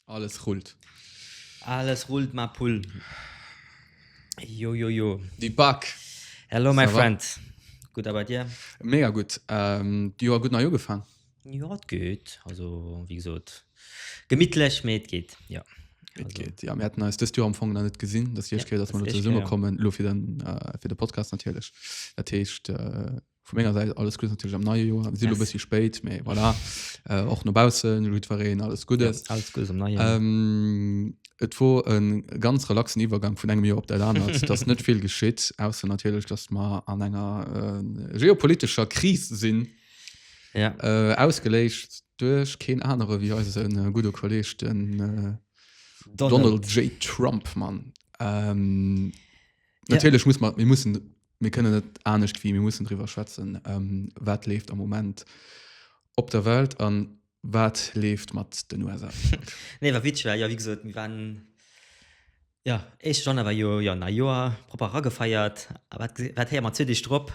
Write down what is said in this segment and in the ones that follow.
Alles rullt. Alles rullt ma Pull. Jo jo jo. Di Back. Hello my friend. Gudd a bei dir? Mega gutt. D'Joer gutt nei ugefaang. Jo et geet also wéi gesot gemittlech mee et geet jo. Et geet jo mir haten eis dëst Joer am Fong nach net gesinn dat éischt Kéier dat mer elo zesumme kommen elo fir den fir de Podcast natierlech dat heescht vu menger Säit alles Guddes natierlech am neie Joer. Mir sinn elo e bëssi spéit mee voilà och no baussen elo jiddwereen alles Guddes. Alles Guddes am neie Joer. Et wor e ganz relaxen Iwwergank vun engem Joer op dat anert et ass net vill geschitt ausser natierlech datt mer an enger geopolitescher Kris sinn. Ja. Äh, ausgeléischt duerch keen anere wéi eisen äh, gudde Kolleg den äh, Donald. Donald J. Trump, Mann. Ähm, Ja. Natierlech muss man, mir mussen, mir kënnen net anescht wie mir mussen drüber schwätzen, ähm, wat leeft am Moment op der Welt an wat leeft mat den USA. Nee, war witzig, weil, ja, wie gesagt, wir waren Jo, éischte Januar war jo, jo, nei Joer, propper eragefeiert. A wat, wat héiere mer zwee Deeg drop?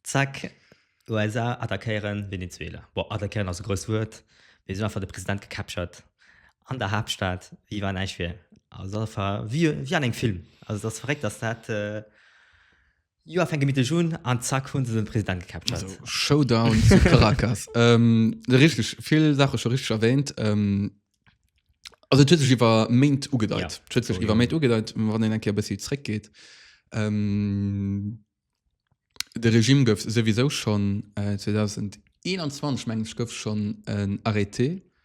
Zack, USA attackéieren Venezuela. Bon, attackéieren ass e grousst Wuert, mee se hunn einfach de President gecaptured an der Haaptstad wéi wa näischt wier. Also, dat ass einfach wéi, wéi an engem Film. Also, dat ass verréckt, dass dat, Joer fänke mitteg un an zack hunn se den President gecaptured. Also Showdown zu Caracas. ähm, richteg vill Saache scho richteg erwähnt. Ähm, also et huet sech iwwer Méint ugedeit. Ja, Et huet sech scho, iwwer ja. Méint ugedeit, wann een eng Kéier e bëssi zréckgeet. Ähm, de Regime gouf souwisou schonn äh, 2021 meng ech gouf schonn en Arrêté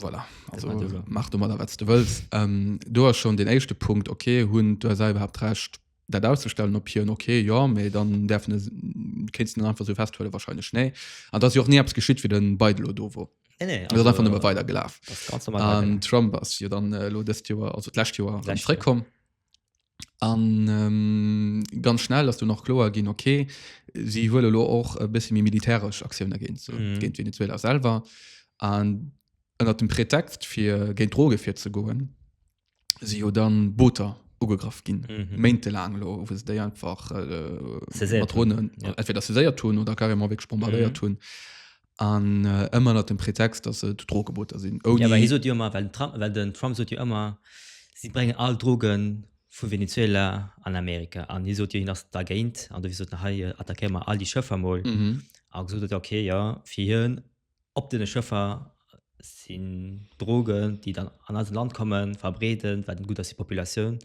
Voilà. Also, mach du mal da, was du willst. Ähm, du hast schon den ersten Punkt, okay, hun, du hast überhaupt recht, das auszustellen, ob hier, okay, ja, aber dann darf es, kannst du einfach so festhalten, wahrscheinlich, nee. Und das ist ja auch nie etwas geschieht, wie den Biden da war. Nee, nee, also, das ist einfach nur weitergelaufen. Das Ganze mal ähm, Trump ist ja dann, äh, das Jahr, also das letzte Jahr, zurückgekommen. An ganz schnell ass du nach kloer ginn, okay, si huele lo och e bësse méi militäresch Aktioune géint se, géint Venezuela selwer. An ënnert dem Pretext fir géint Droge virzegoe si jo da Booter ugegraff ginn, méintelaang elo, wou se déi einfach mat Dronen entweder saiséiert hunn oder carrément wierklech bombardéiert hunn. An ëmmer ënnert dem Pretext, datt et Drogeboter sinn, ouni. Jo, mä hie sot jo ëmmer, well den Trump, well den Trump sot jo ëmmer, si bréngen all Droge vu Venezuela an Amerika. An hie sot jo, hien ass dergéint. An dofir sot en, hei attackéiere mer all déi Schëffer mol. A gesot huet, okay, jo, fir hien, op deene Schëffer sinn Drogen, déi dann an eist Land kommen, verbreeden, wat net gutt ass fir d'Populatioun.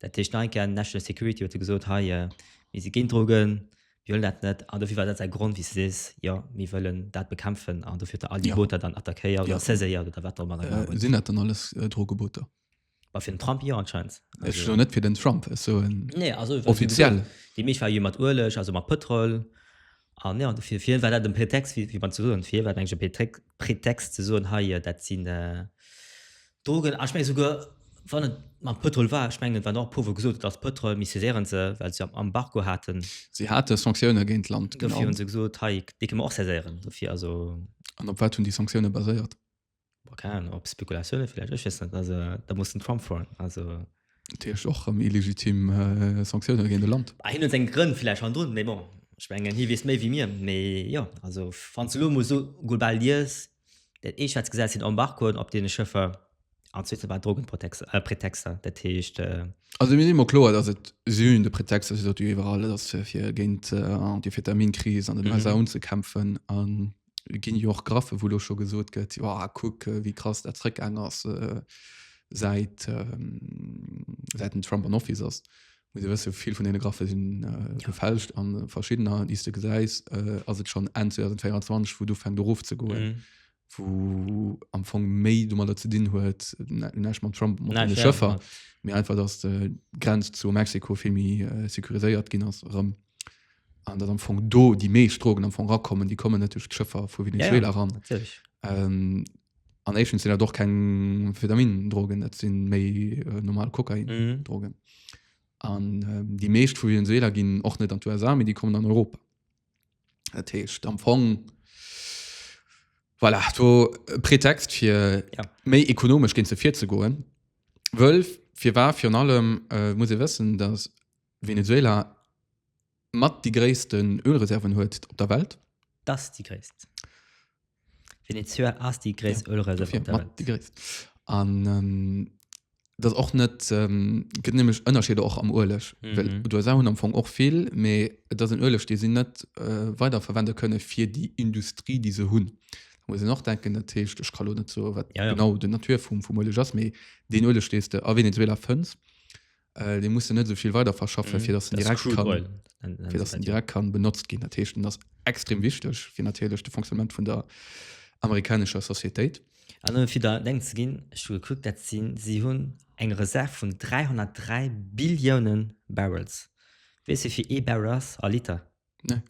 Dat heescht, Nike, National Security, huet e gesot, hei, mir si géint Drogen, Mir wëllen dat net an dofir war dat säi Grond, wéi s de sees, jo, mir wëllen dat bekämpfen an dofir huet e all déi Ja. Booter dann attackéiert oder Ja. saiséiert oder wat och ëmmer der gemaach Äh, huet. sinn dat dann alles äh, Drogeboter? Bah, fir den Trump jo anscheinend. Ech soen net fir den Trump, ech soen Nee, also wat- offiziell. Déi meescht war jo mat Ueleg, also mat Pëtrol. An ja, fir, fir hien war dat en Pretext, wéi, wéi man ze soen. Fir hie war dat eigentlich e Pretext, Pretext ze soen, hei, äh, dat sinn, äh, Drogen, an ech mengen souguer wann et mam Pëtrol war, ech mengen et waren och e puer wou gesot huet ass Pëtrol, mee saisieren se well se Embargo haten. Si hate Sanktioune géint d'Land, genau. Dofir hu se gesot hei dee kënne mer och saisieren dofir, also. An op wat hunn déi Sanktioune baséiert? Boah, keng Ahnung, op Spekulatioune villäicht, ech weess net, also da muss den Trump froen, also. Dat heescht och erëm illegitim Sanktioune géint e Land. Hien huet seng Grënn villäicht hannendrun, mee bon ech mengen hie weess méi wéi mir, mee jo, also wann s de elo emol esou global liest, Dat eescht, wat se gesat hunn, Embargoen op deene Schëffer, an d'zweete war Drogenpretexter, dat heescht. Also mir si mer kloer, datt et sinn de Pretexter, se sot jo iwwerall, et ass fir géint d'Amphetamine-Kris an den USA unzekämpfen. A et ginn jo och Graphen, wou elo scho gesot gëtt, jo kuck, wéi krass dat zrëckgaang ass, säit den Trump an Office ass. muss e wësse vill vun deene Graffe sinn äh, gefälscht an verschiddener, déi s de gesäis, äh, ass et schon Enn 2024, wou du fänkt erof ze goen. Mhm. Wou am Fong méi du mat der ze dinn huet nächt mam Trump mat Nein, deene fair, Schëffer, ja. mir einfach dass de Grenz zu Mexiko vill méi äh, securiséiert ginn ass erëm. An dat am Fong do déi meescht Drogen am Fong rakommen, déi kommen net duerch d'Schëffer vu Venezuela ran. Natürlich. Ähm, an Asian sind doch kein Vitamin drogen das sind méi äh, normal Kokain mhm. drogen an ähm, die meescht vu Venezuela gin och net an USA die kommen an Europa Datcht am Fong voilà, to äh, Pretext fir ja. méi ekonomisch gin ze vir ze goen Wölf fir war fir allem äh, muss wëssen dass Venezuela Mat déi gréissten Ölreserven huet op der Welt. Dass déi gréisst. Venezuela ass déi gréisst Ölreserv op der Welt. Mat déi gréisst. An et ass och net, gëtt nämlech Ënnerscheeder och am Ueleg. Well d'USA hunn am Fong och vill, mee et ass en Ueleg, dee si net weiderverwende kënne fir déi Industrie, déi se hunn. Da muss een och denken, dat heescht, ech ka lo net soe wat genau den Natur vum Ueleg ass, mee deen Ueleg, dee s de a Venezuela fënns, Äh, den muss net soviel weiter verschaffen fir dass den direkt kann fir dass den direkt kann benutzt gin derchten das extrem wichtig fir natürlich de Funktionament vun der amerikanischer Societäit fir der denkt ze gin geguckt dat sinn sie hunn eng Reserv vun 303 Billioune Barrels wees se fir ee Barrel ass a Liter ne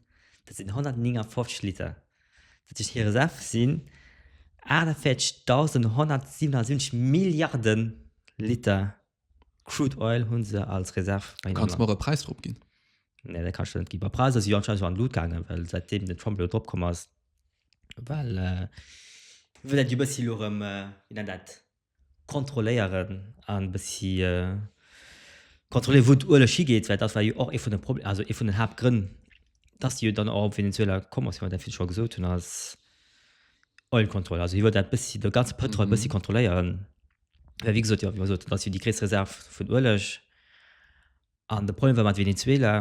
dat sinn 159 Liter dat sech hire Reserv sinn 48.177 Milliarden Liter Crude oil hun se als Reserv bei hinne am Land. Kanns mer e Präis drop ginn? Nee, dat kann ech der net ginn. Bei Präisser si jo anscheinend scho an d'Lut gaangen, well säit deem den Trump elo drop komm ass, well wëll dat jo e bëssi elo erëm, wéi nennt dat, kontrolléieren a e bëssi kontrolléieren, wou d'Ueleg higeet, well dat war jo och ee vun de Proble, also ee vun den Haaptgrënn, dass si jo dann och op Venezuela komm ass, wéi mer dat virdru scho gesot hunn, als Oil Control. Also hie wëll dat bëssi, de ganze Pëtrol e bëssi kontrolléieren. Well wéi gesot, jo, wéi mer gesot hunn, dat ass jo déi gréisst Reserv vun Ueleg. An de Problem war mat Venezuela,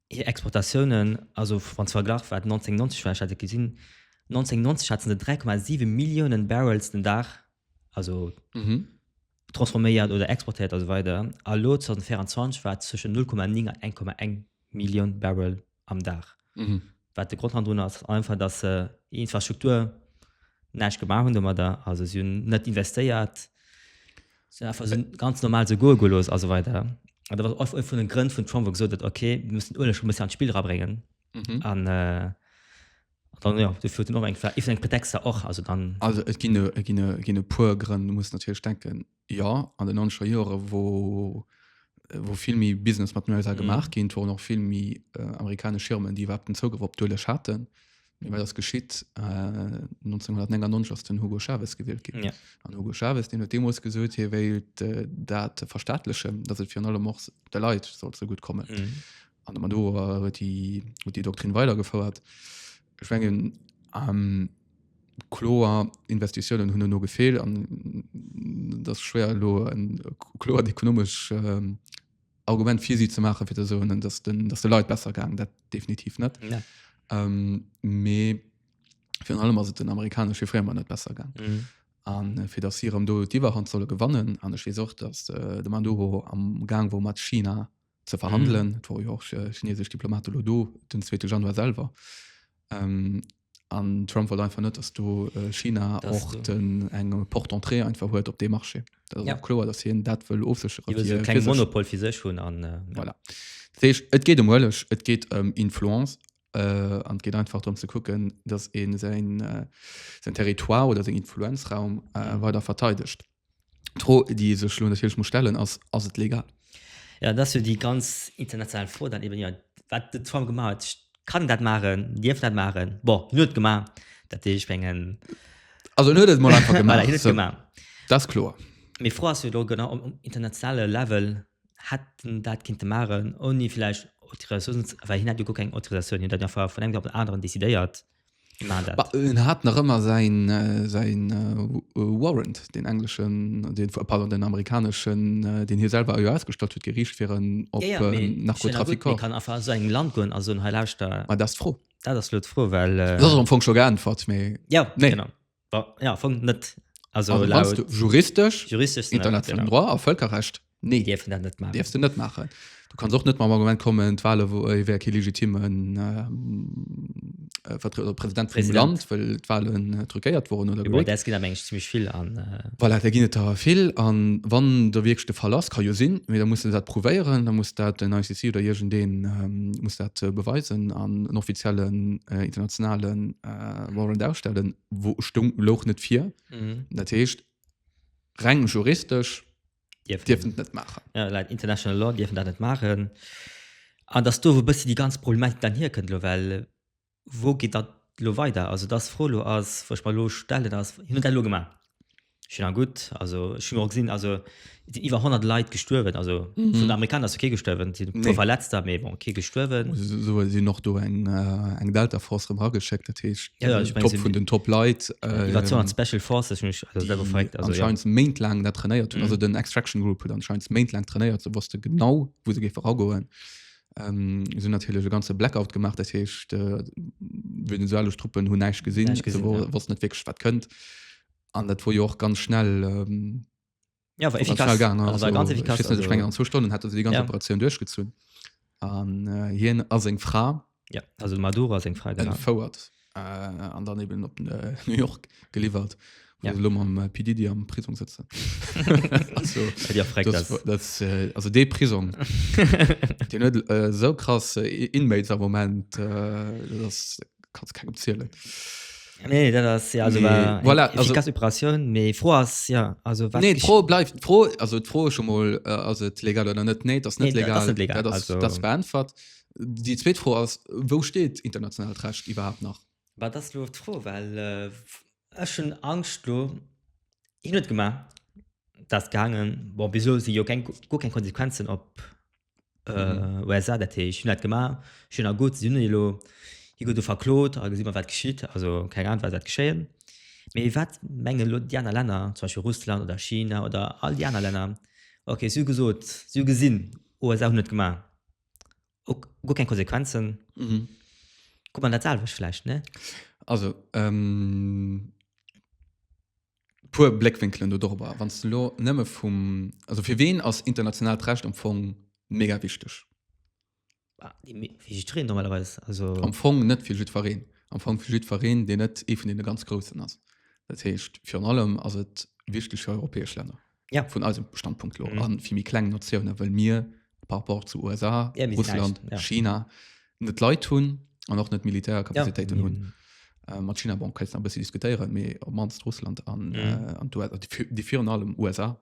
hir Exportatiounen, also wann s de verglach wat 1990 war, ech hat et gesinn, 1990 hate se 3,7 Milliounen Barrels den Dag, also transforméiert oder exportéiert a sou weider, a elo 2024 war et zwëschen 0,9 an 1,1 Millioun Barrel am Dag. Mhm. Wat de Grund drun ass einfach, dass se äh, Infrastruktur näisch gemaach hun dommer da also si hun net investéiert sind ganz normal so go gelos also weiter da war oft vu den Grënn vun Trump wo gesot okay wir müssen Urle schon bis an Spiel rabringen mhm. an äh, dann ja du führt noch eng eng Pretexter och also dann also et gi gi gi puer Grënn muss natürlich denken Jo, an den noncher Jore wou wou vill méi Business mat den USA gemaach ginn, wou noch vill méi äh, amerikanesch Firmen, déi iwwerhaupt den Zougrëff op d'Uelech haten. Mee wat ass geschitt? Äh, 1999 ass den Hugo Chavez gewielt ginn. Ja. An Hugo Chavez, deen huet deemools gesot, hie wéilt äh, dat verstaatlechen, dass et virun allem och de Leit soll ze gutt kommen. Mhm. An mat do huet déi huet déi Doktrin weidergefouert. Ech mengen, kloer Investitiounen hunn herno gefeelt an et ass schwéier elo e kloert ekonomescht Argument fir si ze maachen, fir ze soen, datt de Leit besser gaangen. Dat definitiv net. Mee virun allem ass et den amerikanesche Firma net besser gaangen. A fir datt si erëm do d'Iwwerhand solle gewannen, an ech weess och, datt de Maduro amgaang wor mat China, ze verhandelen. Mm. Et wor jo och äh, chinesesch Diplomat lo do den 2. Januar selwer. Ähm, an Trump wollt einfach net, dass do äh, China Das och du. den eng Portentrée einfach huet op de Marché. Dat ass Ja. och kloer, dass hien dat wëll ofsécheren. Iwwer fir- so fir keng sech. Monopol fir sech hunn an äh, Voilà. Das heescht, et geet em Huelech, et geet em Influence äh, an et geet einfach darum ze kucken, dass een säin, äh, säin Territoire oder seng Influenzraum äh, Mhm. weider verteidegt. D'Fro, déi ee sech elo natierlech muss stellen, ass, Ass et legal? Jo, dat ass jo déi ganz international Fro dann eben, jo, wat de Trump gemaach huet, kann en dat maachen, dierf en dat maachen? Bon, hien huet et gemaach, dat heescht, ech mengen. Also en huet et mol einfach gemaach. Voilà, hien huet et gemaach. Dat ass kloer. Mee d'Fro ass jo elo genau, um internationale Level hätt en dat kinnte maachen, ouni vläicht Autorisatioun, well hien hat jo guer keng Autorisatioun, hien huet dat jo einfach vun engem Dag op den aneren decidéiert. en hat nach ëmmer säin säin warrant den engleschen den pardon den amerikaneschen den hie selwer jo ausgestallt huet geriicht fir en op ja, ja, äh, narkotrafiker kann einfach so eng land goen also en heilauschter ah, das froh dat ass lo d'Fro well äh, dat ass am Fong scho geäntwert mee ja nee. genau Ja, fong net. Also, also laut, juristisch, juristisch international genau. droit a Völkerrecht nee dürfen dat net machen. Dürfst du net machen du kannst och net mam Argument kommen d'Wahle wo äh, wär ke legitimen ähm, äh, Vertre- äh, Präsident vum Präsident. Land well d'Wahlen äh, truckéiert wurden oder Boah, gewählt. das geht am Englisch ziemlich viel an. Äh, Voilà, da ginn et da vill an wann der wirklich de Fall ass kann jo sinn mir da muss dat prouvéieren da muss dat den ICC oder jegent den ähm, muss dat äh, beweisen an en offiziellen äh, internationalen äh, äh, wollen ausstellen wo stung loch net vier mhm. dat heescht reng juristisch dürfen net machen ja, like international law dürfen dat net machen an dass du wo bist die ganz problematik dann hier könnt lo well wo geht dat lo weiter also das froh lo as wo ich mal lo stellen as hin und lo gemacht Schin a gutt also ech hun och gesinn also et sinn iwwer 100 Leit gestuerwen also vun den Amerikaner ass jo kee gestuerwen, et sinn e puer Nee. Verletzter, mee bon kee gestuerwen. Esou hu sinn och do eng äh, eng Delta-Force erëm erageschéckt, dat heescht Ja, ja, ech meng Top vun den Top Leit, Iwwer 200 äh, Special Forces hunn ech also selwer verréckt déi also jo. anscheinend méintlaang dat trainéiert hunn. Mhm. Also den Extraction Group huet anscheinend méintlaang trainéiert, se wosste genau wou se géife ragoen. Ähm, se hunn natierlech e ganze Blackout gemaach, dat heescht äh, venezuelesch Truppen hunn näischt gesinn, Näischt gesinn, se wo ja. wossten net wierklech wat kënnt. an dat wor jo och ganz schnell ähm, ja, ganz efficace. schnell gang also, also, ganz efficace, also, Stunde, also, Stunden hat die ganze ja. Operation durchgezun an äh, hien as eng Fra ja, also Maduro as eng Fra fouert äh, an dann eben op äh, New York geliefert ja. also, am äh, PD die am Prisung sitze äh, also de Prisung den äh, so krass äh, inmates am moment äh, das, kannst kein opzielen nee, das, ja, also, nee. Voilà, also, Operation nee, froh as, ja, also, nee, froh bleibt froh also froh schon mal äh, also, legal oder net nee, das net nee, legal, das, legal. Das, also, das beantwort die zweet froh aus wo steht international recht überhaupt noch war das lo froh weil äh, schon angst lo ich net gemacht das gangen bon wieso sie jo kein, kein konsequenzen op äh, USA, dat heescht, hun dat gemaach, schön a gutt, si hunn elo hi gutt do verklot, a gesi mer wat geschitt, also keng Ahnung wat dat geschéien. Mee wat mengen elo déi aner Länner, zum Beispiel Russland oder China oder all déi aner Länner, okay, si hu gesot, si hu gesinn, USA hunn et gemaach, ok, guer keng Konsequenzen, gutt mer dat selwecht vläicht, ne? Also, ähm. puer Bléckwinkelen do dorobber. Wann s du elo nëmme vum, also fir ween ass internationaalt Recht am Fong mega wichteg? Fir jiddwereen normalerweis. Also Am Fong net fir jiddwereen. Am Fong fir jiddwereen, deen net ee vun deene ganz Groussen ass. Dat heescht, virun allem ass et wichteg fir europäesch Länner. Ja. vun eisem Standpunkt lo Mhm. an vill méi kleng Natiounen, well mir par rapport zu USA, Ja, mir sinn Russland, näischt, ja. China net d'Leit hunn an och net Militärkapazitéiten Ja. hunn. Äh, mat China bon, kanns nach e bëssi diskutéieren, mee op mannst Russland an, Mhm. äh, an d'USA, déi vir- déi virun allem USA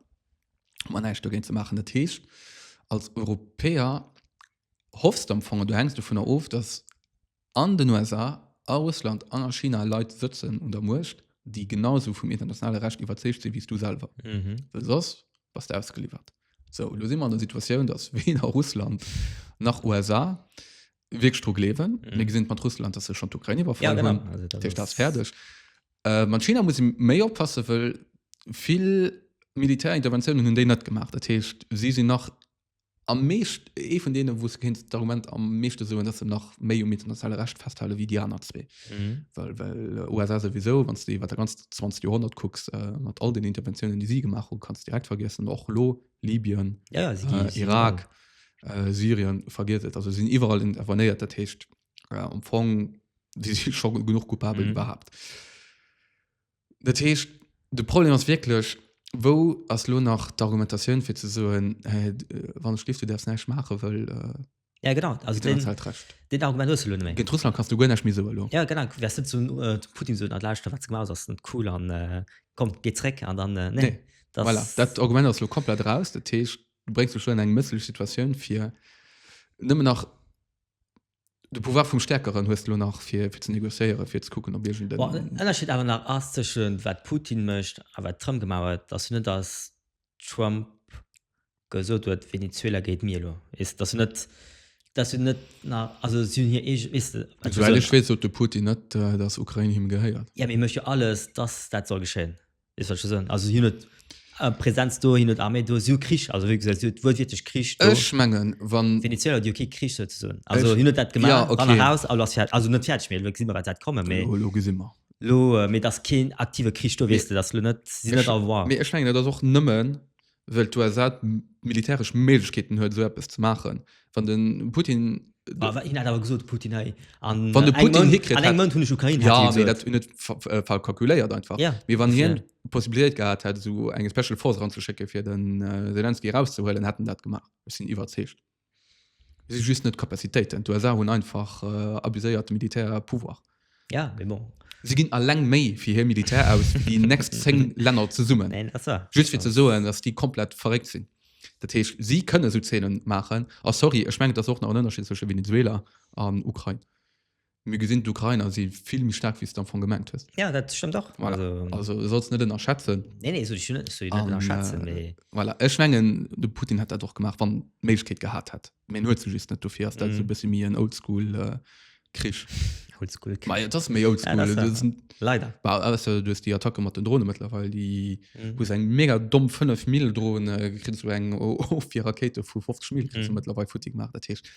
hu mer näischt dogéint ze maachen. Dat heescht, als Europäer hoffs de am Fong an du hänks dovunner of, dass An den USA, a Russland an a China Leit sëtzen un der Muecht, déi genau esou vum internationale Recht iwwerzeegt sinn, wéi s du selwer. Well soss bass de ausgeliwwert. Sou, elo si mer an der Situatioun, datt weder Russland nach USA wierklech dru gleewen. Mir gesinn et mat Russland, datt se schonn d'Ukrain iwwerfall hunn. Dat heescht, dat ass fäerdeg. Mat China muss ee méi oppassen, well vill Militärinterventiounen hunn déi net gemaach. Dat heescht, si sinn nach am meescht, ee vun deenen, wou s de kéints d'Argument am meeschte soen, dass se nach méi um internationale Recht festhale wéi déi aner zwee. Mhm. Well, well äh, USA souwisou, wann du iwwer der ganz 20. Joerhonnert kucks, äh, mat all den Interventiounen, déi si gemaach hu, kanns direkt vergiessen, och lo Libyen, Ja, ja, si gi- äh, si gi- Irak, äh, Syrien, vergiet et. Also sinn iwwerall intervenéiert, dat heescht äh, am Fong si si scho genuch coupabel Mhm. iwwerhaapt. Dat heescht, de Problem ass wierklech, wou ass lo nach d'Argumentatioun, fir ze soen, Hä, wann ech géif, du däerfs näischt maachen, wëll Ja, genau. Also kritt een deen, erzählt d'Recht. deen Argument hues du elo net méi. Géint Russland kanns du guer näischt méi soe lo. Ja, genau. Du wäers net zum äh, zum Putin soen, Ah, lauschter, wat s du gemaach hues, ass net cool an äh, komm, geh zréck an dann, äh, nee. Nee. Das, Voilà, dat Argument ass lo komplett raus. Dat heescht, du bréngs dech lo an eng mësslech Situatioun, fir nëmmen nach De Pouvoir vum Stäerkeren hues de lo nach, fir ze negociéieren, fir ze kucken, ob iergend en. Bon, den Ënnerscheed awer nach ass tëschent wat Putin mécht a wat Trump gemaach huet, ass jo net, datt Trump gesot huet, Venezuela gehéiert mir elo. Weess de, dat ass jo net, dat ass jo net nach, also si hunn hir eege, weess de, wat ech. Souwäit ech weess, sot de Putin net, datt Ukrain him gehéiert. Jo, mee e mécht jo alles, datt dat soll geschéien. Wéi soll ech dat soen? Also, si hunn net eng Präsenz do, si hunn net Arméi do, si hu Krich. Also, wéi gesot, si hu wuelwiertlech Krich do. Ech mengen, wann. D'Venezueler, déi hu kee Krich souzesoen. Also, si hunn net dat gemaach. Jo, okay. Ran a raus, alles fäer-, also net fäerdeg, mee elo gesi mer, wat wäert kommen, mee. Jo, elo gesi mer. Elo, mee et ass keen aktive Krich do, weess de, et ass elo net, si sinn net à voir. Mee ech mengen, et ass och nëmmen, wëll d'USA d'militäresch Méiglechkeeten huet, esou eppes ze maachen. Wann de Putin Ah, wa- hin hat awer gesot Putin hei an Wann de äh, eng Putin Mount- hikritt an eng hätt- Mount hunn ech Ukraine hat Ja, hie mee gesot. dat hunn net fa- fa- falsch kalkuléiert einfach. Ja, Mee wann hien dofir. d'Possibilitéit gehat hätt, esou eng Special Force eranzeschécke fir den äh, Selenskyj erauszehuelen, hätt en dat gemaach. Ech sinn iwwerzeegt. si just net Kapazitéiten. D'USA hunn einfach äh, abuséiert de Militär Pouvoir. Ja, mais bon. Si ginn alleng méi fir hir Militär aus wéi déi next 10 Länner zesummen. Nein, das war. Just fir ze soen, dass déi komplett verréckt sinn. Dat heescht, si kënne sou Zeenen maachen. A sorry, ech mengen, et ass och nach en Ënnerscheed zwësche Venezuela an Ukrain. Mir gesinn d'Ukrainer si vill méi staark wéi s de am Fong gemengt hues. Ja dat stëmmt och. Voilà. Also, also sollst net ënnerschätzen. Nee, nee, so, so, so, an, ënnerschätzen, äh, nee. voilà. Ech mengen de Putin hätt dat och gemaach wann d'Méiglechkeet gehat hätt. Mee en huet se just net, dofir ass dat mm. sou bësse méi en oldschool äh, Krich. Oldschool Krich. Ma, ja, dat ass méi oldschool. Ja, Leider. Du hues déi Attacke mat den Drone mëttlerweil, déi hu se eng mega domm 5 Mill droen krit zu eng of fir Rakéite vu 50 Mill krit zeëtlerweil futtig maach dat Teescht.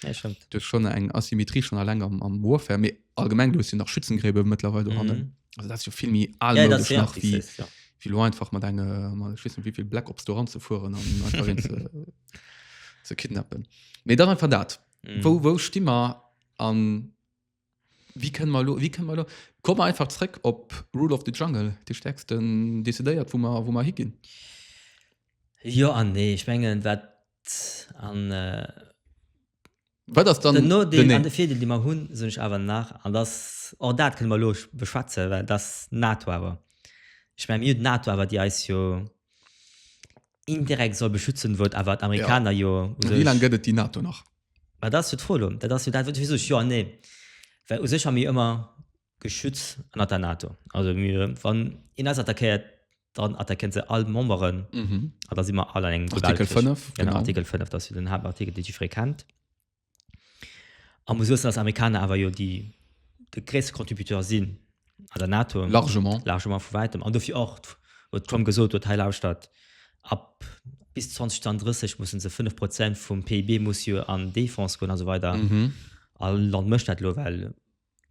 Du schon eng Asymmetrie schon a Länger am Woerfär. Mee allgemeng du sinn nach Schützengräbe mëttlerweil do hannen. Also dat jo villmi al nach wie wie lo einfach mat eng schwissen wievill Black ops doran ze fueren an ze kidnappen. Mee dann einfach dat. Wou wou sti mer an. Wéi kënne mer elo, wéi kënne mer elo? Komme mer einfach zréck op Rule of the Jungle, dee Stäerksten decidéiert, wou mer, wou mer higinn. Jo an nee. Ech mengen, wat an. Wat ass dann. Den Nodeel an de Virdeel, dee mer hunn, soen ech awer nach, an dass, och dat kënne mer elo beschwätzen, well dass d'NATO awer, ech mengen, mir hunn d'NATO awer, déi eis jo indirekt soll beschützen, wou et awer d'Amerikaner jo u sech. Wéi laang gëtt et déi NATO nach? Mä dat ass jo d'Fro elo. Dat ass jo dat, wat ech visu jo an nee. Well u sech hu mir ëmmer geschütz ënnert der NATO. Also mir, wann een eis attackéiert, dann attaquéiert se all Memberen an da si mer all an engem Duell. Artikel 5. Genau, Artikel 5, dat ass jo den Haaptartikel, dee jiddweree kennt. A muss soen, dass d'Amerikaner awer jo déi, de gréisste Contributeur sinn. an der NATO largement largement vu wäitem an dofir och wat Trump gesot huet hei lauschtert ab bis 2030 mussen se 5 Prozent vum PIB muss jo an Defense goen also weider mm -hmm. all Land mëcht dat lo well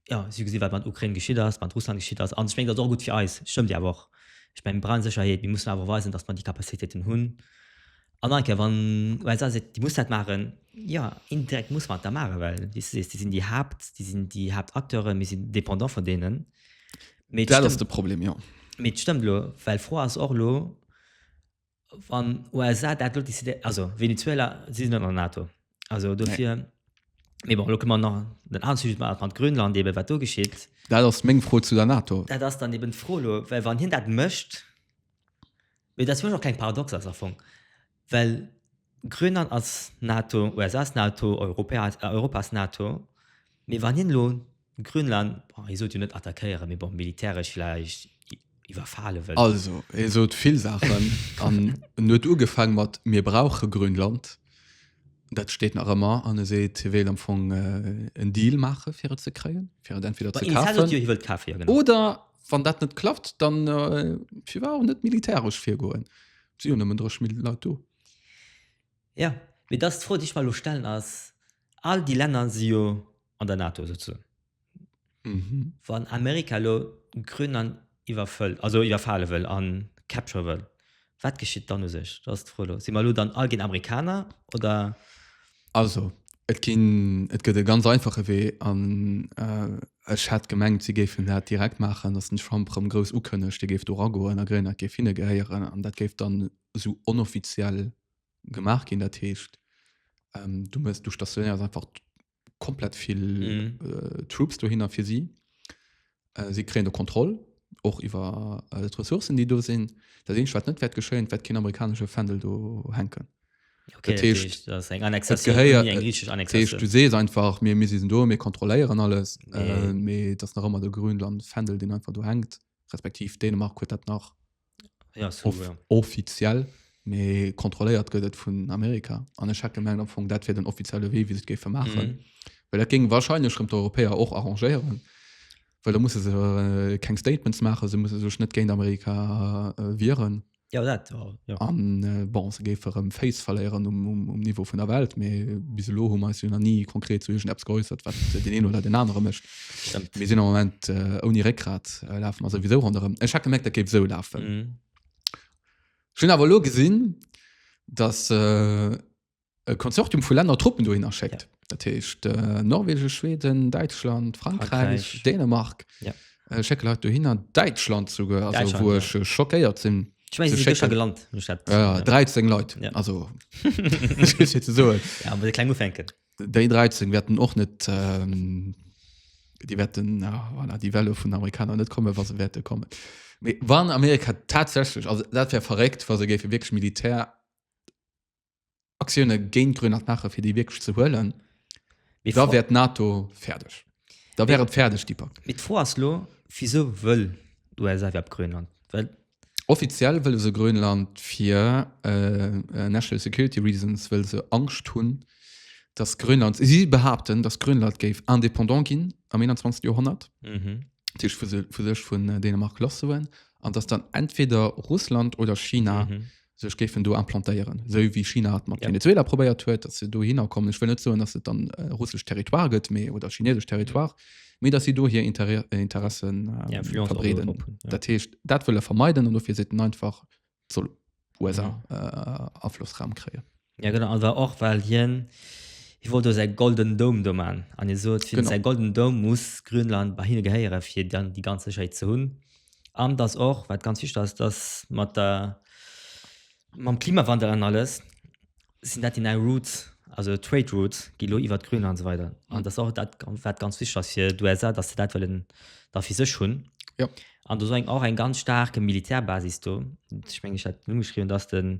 ja si gesinn wat man Ukraine geschitt ass man Russland geschitt ass an ich mengt dat och gut fir eis stëmmt ja och ich meng brand Sicherheet mir mussen awer weisen dass man die Kapazitäten hunn An enke wann USA seet, déi muss dat maachen, jo, indirekt muss mer et da maachen, well wéi s de sees, déi sinn déi Haapt, déi sinn déi Haaptacteure, mir sinn dépendant vun deenen. Mee dat ass de Problem, jo. Mee et stëmmt elo, well d'Fro ass och elo, wann USA dat elo decidéiert, also Venezuela, si sinn net an der NATO, also dofir. Nee. Mee bon, elo kënne mer nach op den anere Sujet, mat mat Grönland eeben, wat do geschitt. Dat ass meng Fro zu der NATO. Dat ass dann eeben d'Fro elo, well wann hien dat mécht. Mee dat fir mech och keng Paradox ass am Fong, well Grönland ass NATO, USA ass NATO, Europä Europa ass NATO. Mee wann hien elo Grönland, bon hie sot jo net attackéieren, mee bon militäresch vläicht iwwerfale wëll. Also hie sot vill Saachen an en huet ugefaang mat mir brauche Grönland, dat steet nach ëmmer, an e seet hie wéilt am Fong en Deal maache fir et ze kréien, fir et entweder ze Hien zéit jo, hie wëll et kafen. kafen, ja genau. oder Wann dat net klappt, dann äh, fir war net militäresch virgoen. Si hun ëmmen drech mil Leit do. Ja, mir das fro Dich mal lo stellen ass all die Länner si jo an der NATO sozu. Mhm. Wann Amerika lo Grönland iwwerfëllt, also iwwerfale wëll an capture wëll, Wat geschitt dann u sech? Dat ass d'Fro elo. Si mer elo dann all ginn Amerikaner, oder? Also, et ginn, et gëtt e ganz einfache Wee, an ech hat gemengt, si géifen dat direkt maachen, datt den Trump erëm grouss ukënnegt, hie géif do eragoen, a Grénlad géif hinne gehéieren, an dat géif dann esou onoffiziell gemaach ginn. Dat heescht, du stationéiers einfach komplett viel mm. äh, Troops do hinner fir sie. Äh, sie kräen der Kontrolle och iwwer äh, Ressourcen, die do sinn. Dat ding wat net wert geschéint, wat kin amerikanische Fändel do henken. Okay, du sees einfach mir miss do mir kontroléieren alles nee. äh, das nach immer der Grünland Fändel den einfach du hängt respektiv Dänemark huet dat nach Ja, so, Off ja. Offiziell, mee kontrolléiert gëtt et vun Amerika. An ech hätte gemengt am Fong, dat wier den offizielle Wee, wéi se et géife maachen. Mhm. Well dat géing wahrscheinlech rëm d'Europäer och arrangéieren. Well da musse se äh, keng Statements maachen, se musse sech net géint Amerika äh, wieren. Ja, dat war. Ja. An äh, bon, se géife rëm Face verléieren um, um, um Niveau vun der Welt, mee bis elo hu mer eis jo nach ni konkret zu irgendeps geäussert, wat den een oder den anere mécht. Stimmt. Mir sinn am Moment äh, ouni Réckgrat äh, lafen also wieso rondem. Ech hat gemerkt, dat géif so lafen. Mhm. Mm. Schon awer lo gesinn, dass äh, e Konsortium vu Länder Truppen dohin erschéckt. Ja. Dat heescht äh, Norwegen, Schweden, Deutschland, Frankreich, Frankreich. Frankreich. Dänemark. Ja. Äh, schicke Leute dohin an Deutschland sogar, also Deutschland, wo ja. ich äh, schockéiert sinn. Ich meine, So sie sind schick- schon gelandet. Ich hab- Ja, 13 Leute. Ja. Also, das ist jetzt so. ja, aber klein Ufänken. Déi 13 wäerten och net déi wäerten voilà, déi Welle vun Amerikaner net komme wa se wäerte kommen. Mee wann Amerika tatsächlich also dat wär verréckt, wa se géife wirklich Militär Aktioune géint Grönland maache fir déi wirklich ze huelen, Mee da d'Fro- wär d'NATO fäerdeg. Da wär et fäerdeg, Dipak. Mee d'Fro ass lo, Wisou wëll d'USA iwwerhaapt Grönland? Well Offiziell wëlle se Grönland fir national security reasons, wëll se Angscht hunn, dass Grönland, si behaapten, dass Grönland géif indépendant ginn am 21. Joerhonnert, dat heescht vu sech vun Dänemark lasssoen, an dass dann entweder Russland oder China sech géifen do implantéieren, esou wéi China et mat Venezuela probéiert huet, datt se dohinner kommen. Ech wëll net soen, datt et dann russesch Territoire gëtt, mee oder chinesesch Territoire, mee datt si do hir Intérêt, Interessen verbreeden. Dat heescht, dat wëll e vermeiden an dofir seet en einfach, et soll USA Aflossraum kréien. Ja genau, an war och well hien hie wollt do säi Golden Dome do man an hie sot fir säi Golden Dome muss Grönland bei hinne gehéiere fir dann déi ganz Sécherheet ze hunn. An datt och wat ganz wichteg ass, datt mat der mam Klimawandel an alles sinn dat déi nei Routes, also Trade Routes gi lo iwwert Grönland an esou weider. An datt och dat wat ganz wichteg ass fir d'USA, datt se dat wëllen da fir sech hunn. An do ass eng och eng ganz staarke Militärbasis do. Ech mengen ech hat et ugeschriwwen, datt de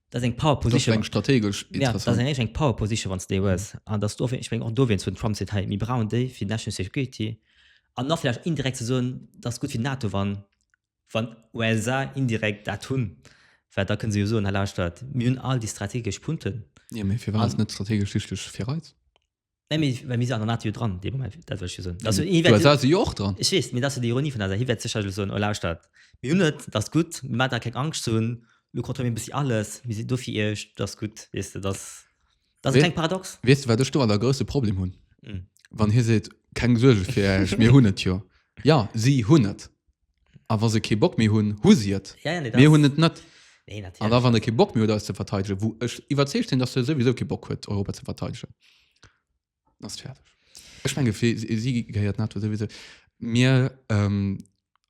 das eng power position eng strategisch ja, das eng, eng power position wann du hues an dass du ich mein, auch du zu Trump se hey, mir brauchen de fir national security an nach vielleicht indirekt zu so das gut fir NATO wann wann USA indirekt dat hunn weil da können sie so in der Stadt mir hun all die strategisch Punkten ja, fir was net strategisch wichtig fir Reiz Nee, mir, well mir si an der Natur dran, dee Moment, dat wëll ech jo soen. Dat jo, iwwer- Du se jo och dran. Ech weess, mee dat ass jo déi Ironie vun der Saach. Hie wäert sécherlech soen, oh lauschtert, mir hunn et, dat ass gutt, mir maachen der keng Angscht ze hunn, elo kontrolléiere mir e bëssi alles, mir sinn do fir iech, dat ass gutt, weess de, dat ass, dat ass e Wee- kleng Paradox. Weess de, wat ech doranner e grousse Problem hunn? Mm. Wann hie seet, keng Suerge fir iech, mir hunn et jo. Jo, si hunn et. A wa se kee Bock méi hunn, hu si et. Ja, ja, nee, Mir hunn et net. Nee, natierlech. An da wann e kee Bock méi huet eis ze verteidegen, wou ech iwwerzeegt sinn, datt e souwisou kee Bock huet Europa ze verteidegen, dann ass et fäerdeg. Ech menge fir si gehéiert NATO souwisou. Mir,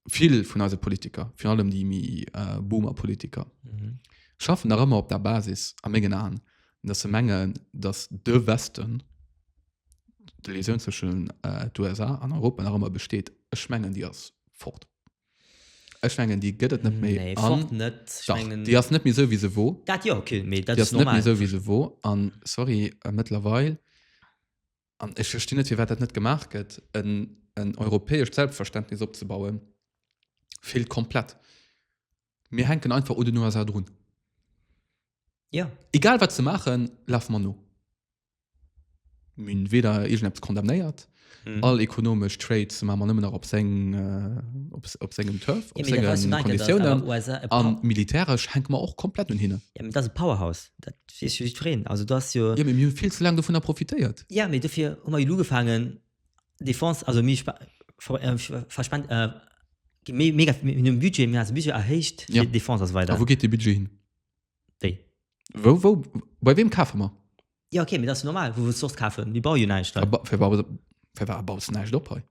vill vun eise Politiker, virun allem déi méi Boomer Politiker, schaffen nach ëmmer op der Basis, a mengen Aen, datt se mengen, datt de Westen, de Liaison zwëschen äh, USA an Europa nach ëmmer besteet, ech mengen Dir ass fort. Ech mengen Dir gëtt et net méi nee, an net schmengen... Dir ass net mir sou wie se wo. Dat ja okay, méi dat ass net mir sou wie se wo an sorry äh, mëttlerweil an ech versti net fir wat dat net gemaach gëtt en en europäesch Selbstverständnis opzebauen vill komplett. Mir henken einfach oder nur as run. Ja egal wat ze machen, laf man no. Min weder egent Apps kondamnéiert mhm. all ekonomisch Trades ma man nëmmen op seng äh, op, op sengem Turf op ja, senge Konditiounen an militärisch henk man och komplett un hinne ja, das Powerhaus dat freen also das jo ja, mir viel ze lang davon profitéiert ja mir dofir hummer lu gefangen Defense also mi äh, verspannt äh, mega Budget mir Budget erhéicht ja. Defense weiter wo geht de Budget hin Wéi? Wou, wou, bei wem kafe mer? Ja, okay, mir das normal. Wo willst du sonst kaufen? Mir bauen ja nicht. Ja, ba, für war, für war baust du nicht op hei?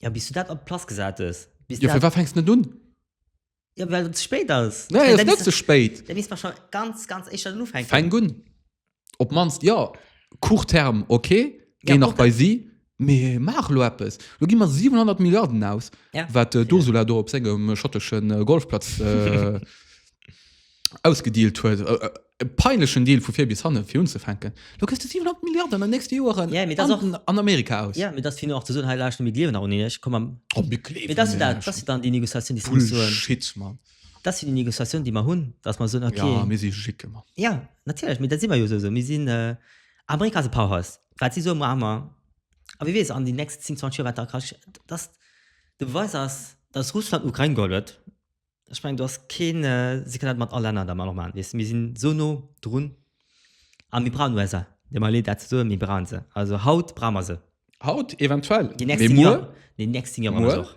Ja, bis du das ab Platz gesagt hast. Bis ja, für war fängst du nicht an? Ja, weil es zu spät ist. Nein, es ist nicht zu spät. Dann müssen wir schon ganz, ganz echt anfangen. Fang an. op manst ja court terme okay geh ja, nach okay. bei sie mir mach lo etwas du gi mal 700 Milliarden aus ja. wat äh, du ja. do op engem schotteschen äh, Golfplatz äh, ausgedealt huet äh, äh peinlechen Deal vu fir bis hanne fir hun ze fenken. Du kës du 700 Milliarden an der nächste Joren ja, an, auch, an Amerika aus. Ja, das hin zu he mit liewen an kom am oh, dann die Negociation die Bullshit, man. Dat si déi Négociatioun, déi mer hunn, datt mer soen, okay. Ja, mir si jick ëmmer. Jo, natierlech, mee dat si mer jo esou. Mir sinn, Amerika ass e Powerhouse. Wat si soen, maache mer. A wie weess an den nächsten 10, 20 Joer, wat da ka geschitt. Datt de Beweis ass, datt Russland d'Ukrain geholl huet, ech mengen, do ass keen, si kënnen dat mat all Länner da mat och maachen. Weess, mir sinn esou no drun. A mir brauchen USA. Et deet mer leed, dat ze soen, mee mir brauche se. Also haut brauche mer se. Haut eventuell. Déi nächst 10 Joer. Muer. Déi nächst 10 Joer brauche mer se och.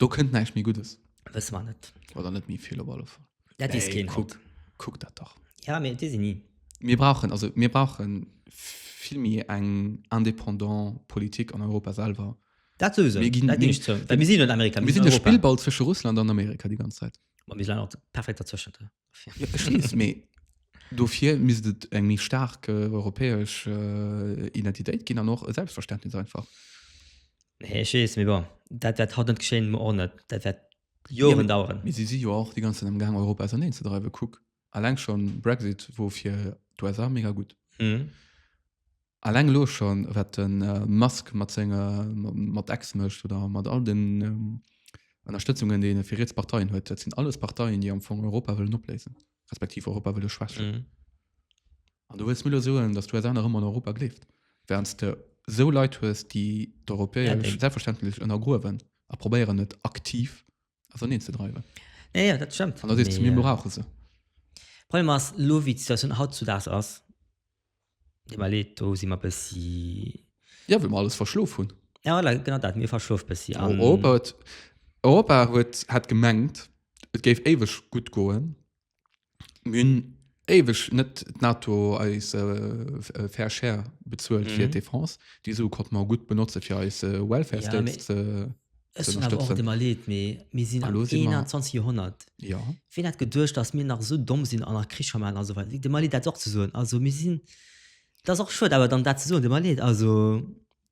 Do kënnt näischt méi Guddes. Wësse mer net. Oder net méi vill op alle Fall. Dat weess Nee, keen. kuck, kuck dat dach. Ja, mee et weess een ni. Mir brauchen, also mir brauchen vill méi eng indépendant Politik an Europa selwer. Dat souwisou. Mir ginn- Dat ginn ech zou. Well mir sinn jo net Amerika, Mir sinn de Europa. Spillball zwësche Russland an Amerika déi ganz Zäit. Ma mir sinn awer perfekt dazwëschent. Dofir misst et eng méi staark europäesch Identitéit ginn an och e Selbstverständnis einfach. Nee, ech weess, mee bon, dat wäert haut net geschéien, muer och net. Dat wäert Joren daueren. Mee si si jo och déi ganze Zäit am Gaang, Europa auserneen ze dreiwen. Kuck alleng schonn Brexit wor fir d'USA mega gutt. Alleng elo schon wat den Musk mat senge mat X mecht oder mat all den Ennerstëtzungen déi en fir riets Parteien huet, dat sinn alles Parteien déi am Fong Europa wëllen opléisen respektiv Europa wëlle schwächen. An du wëlls mir elo soen, datt d'USA nach ëmmer an Europa gleeft, währends de sou Leit hues déi d'Europäesch selbstverständlech ënnergruewen a probéieren et aktiv Also an een ze dreiwen. Ja, ja, dat stëmmt. An da sees du, mir brauche se. Problem ass, lo wéi d'Situatioun hautzudaags ass, deem mer leed, do si mer e bëssi. Ja, well mer alles verschlof hunn. Ja, voilà, genau dat, mir verschlof e bëssi. An Europa huet, Europa huet, hat gemengt, et géif éiweg gutt goen. Mir hunn éiweg net d'NATO eis äh, äh fair share bezuelt fir mhm. d'Defense. Déi Sue konnte mer gutt benotze fir eis äh, Welfare ja, States ze Ech hunn awer och immer leet méi mir sinn am 21 Joerhonnert. Ja. Wien hat geduercht, dass mir nach so domm sinn an nach Krich vermaen also wat de Mali dat och ze soen. Also mir sinn dat och schuet awer dann dat ze soen de Mali also.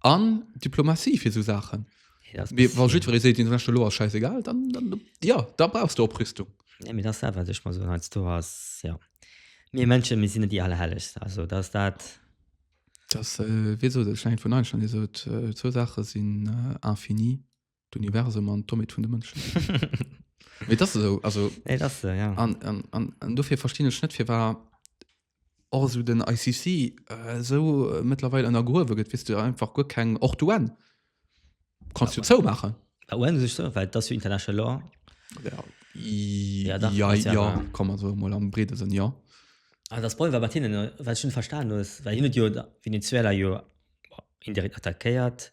an Diplomatie fir sou Saachen. Ja, das Mir war jiddweree seet den Recht lo ass scheißegal, dann, dann ja, da brauchst du Oprüstung. Ja, mir das dat, wat ech mal so als du ass, ja. Mir Menschen, mir sinn net déi Allerhelleg. Also, das dat. Das, äh, wéi sot et, Stein vun Einstein, dee sot, äh, zwou Saache sinn äh, infini, d'Universum an d'Doméit vun de Mënschen. Mee dat ass esou, also Ey, das, äh, ja. an, an, an, an dofir verstinn ech net fir war och so den ICC äh, so äh, mittlerweile an der Gruwe gëtt wis du einfach guer keng och du en kannst du zou machen Bei UN sech so, weil das für international Law. ja, Ja, da, ja, das ja ja, wahr. kann man so mal am Brede sinn ja Ah, das Problem war bei denen, äh, weil ich schon verstanden ist, weil hin und jo, da- Venezuela jo boah, indirekt attackiert,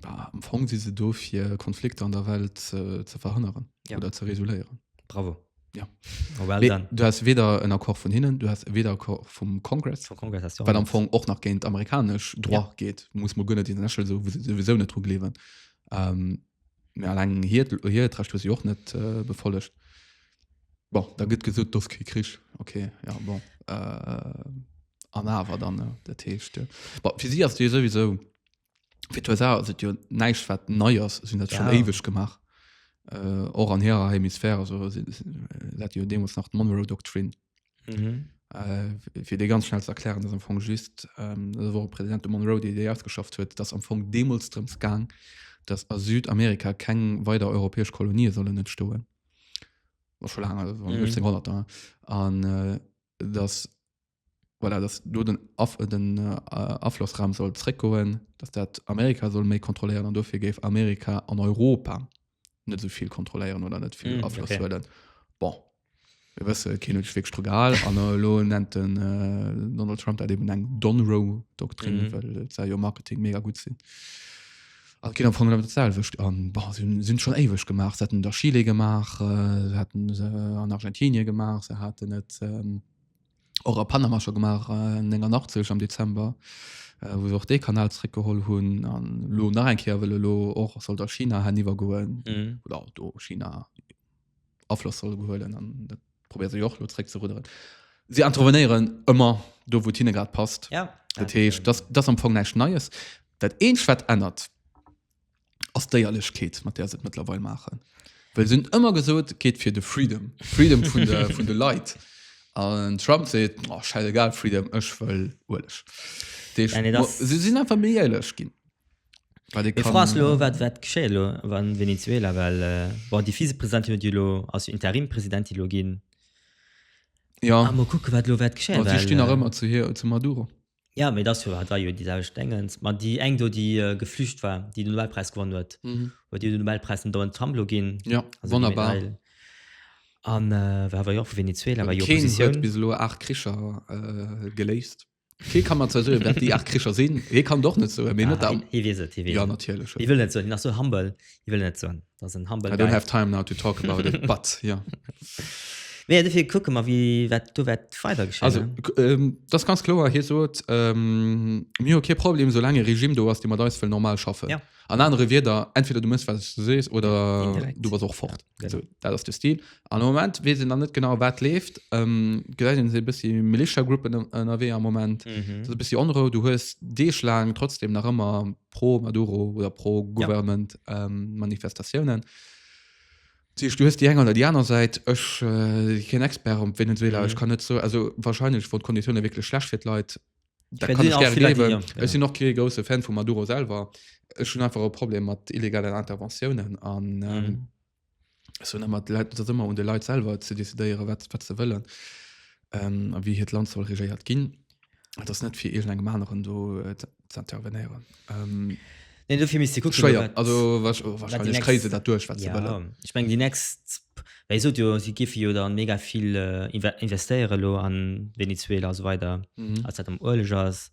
Bah, am Fong si se do fir Konflikter an der Welt äh, ze verhënneren ja. oder ze resoluieren. Bravo. Ja. Oh, well nee, du hast weder en Akkor vun hinnen, du hast weder Akkor vum Kongress well am Fong och nach géint amerikasch Dr ja. geht, muss man gënne den Lächel so sowieso net trug lewen. Ähm, lang hier hier tracht du sie och net äh, befollegt. Bon, da gëtt gesot dos kri krich okay ja bon äh, an awer dann äh, der Techte. Äh. Bon, fir sie as du sowieso fir d'USA ass et jo näischt wat nei ass, sinn dat schon Ja. éiweg gemaach. Äh, och an hirer Hemisphär, also si- si- äh, dat jo deemools nach d'Monroe Doctrine. Mhm. Äh, fir dee ganz schnell ze erklären, dass am Fong just ähm, dat war Präsident de Monroe, déi déi ausgeschafft huet, dass am Fong deemools drëms gaang, dass a Südamerika keng weider europäesch Kolonie sollen entstoen. War scho laang, also war Mhm. 1800er. An äh, dass voilà, dass do den, Af den äh, Aflossraum soll zréckgoen, dass dat Amerika soll méi kontrolléieren an dofir géif Amerika an Europa net sou vill kontrolléieren oder net vill mm, Afloss okay. huelen. Bon. Wir wësse keen huet wég Strogal an äh, lo nennt den äh, Donald Trump dat eben eng Donrow-Doktrin, mm. well sei jo Marketing mega gut sinn. Also, geht am Anfang das selwischt an boah, sind, sind schon ewig gemacht sie hatten der Chile gemacht äh, sie hatten äh, an Argentinien gemacht sie hatten net ähm, och a Panama schon gemacht äh, 89 am Dezember äh, wo se och dee Kanal zréckgeholl hunn an lo nach eng Kéier wëlle lo och soll der China haniwwer goen Mhm. oder auch do China Afloss soll gehuelen an dat probéiert se jo och lo zréck ze rudderen. Si intervenéieren ëmmer do wou hinne grad passt. Ja. Dat heescht, das, das am Fong näischt Neies. Dat Eenzeg, wat ännert, ass d'Éierlechkeet, mat där se et mëttlerweil maachen. Well se hunn ëmmer gesot, et geet fir de Freedom, Freedom vun de, vun de Leit. An den Trump seet, oh, scheidegal, Freedom, ech wëll Ueleg. Dat heescht, Ja, nee, das- se sinn einfach méi éierlech ginn. Well déi Mir kann- froen lo wat wat geschéie lo an Venezuela well äh, bon déi Vizepresidentin huet jo lo ass Interimpresidentin lo ginn Ja, a mo kucke wat lo wat geschéie a si well, stinn nach äh, ëmmer zu hir, zu Maduro. Ja, mee das jo hat war jo déi selwecht Dengens. Ma déi eng do, déi äh, geflücht war, déi den Nobelpreis gewonnen huet, mhm. huet den Nobelpreis den Donald Trump lo ginn. Ja, also wonnerbar. An äh, war jo vu Venezuela war jo Position. bis lo acht Kricher äh, geléist. Kee kann man zersuren, dat déi acht Kricher sinn. Hie kann doch net so, mé ah, net am. Hie wieset, hie wieset. Ja, natierlech. Hie wëll net so, nach so humble, hie wëll net so. das ein humble I don't have time now to talk about it but ja yeah. nee, dafür gucken mal wie wat du wat weiter geschehen also ähm, das ganz klar hier so ähm, mir okay problem so lange regime du hast immer da will normal schaffen ja an andere wieder entweder du musst was du sest oder Indirekt. du was auch fort ja, so, das ist der stil an moment wir sind dann nicht genau wat lebt ähm, sie bis die militia gruppen am moment mhm. bist die andere du hast die schlagen trotzdem nach immer die pro Maduro oder pro Government ja. ähm, Manifestatiounen. Du hues die enger oder die aner seit ech äh, kein Expert um Venezuela mhm. ich kann net so also wahrscheinlich wo Konditionen wirklich schlecht fir Leute da kann ich gerne leben ja. ich sind noch ke große Fan vu Maduro selber schon einfach Problem mat illegalen Interventionen an ähm, mhm. so na mat Leit dat ëmmer un de Leit selwer ze decidéiere wat wat ze wëllen ähm, a wie hiert Land soll regéiert ginn. Et ass net fir irgendengem aneren do äh, ze ze intervenéieren. Ähm, Nee, dofir misst gucken, schwéier wat- also wahrsch- wat die wahrscheinlech next- kréise dat duerch wat ze Ja, wëllen. ich meng die next wéi sot jo si gife jo dann mega vill äh, inve- investéiere lo an Venezuela a so weider Mhm. als dat am Ueleg ass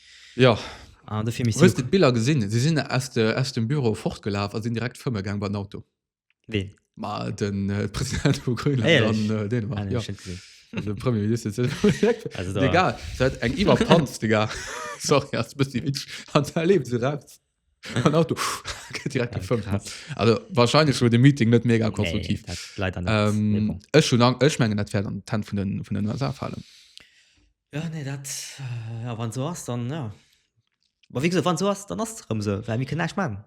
Jo, an de Film hues de d'Biller gesinn? Si sinn aus de aus dem Büro fortgelaf a sinn direkt fëmme gaang bei den Auto. Ween? Ma den äh, President vu Grönland an äh, Dänemark. Ah, ja. Also, Premier Minister zu also, da. Egal, dat eng Iwerpanz, Digga. Sorry, as bëssi Witsch. An da lebt se raus. An Auto, gëtt direkt gefëmmt. Ja, also, wahrscheinlich wurde de Meeting net mega konstruktiv. Nee, leider net. Ähm, ech, schon, ech mengen, dat wär an Tent vun den, vun den USA fallen. Jo nee dat a wann sou ass dann ja. Ma wéi gesot wann sou ass dann ass et erëm sou well mir kënnen näischt man.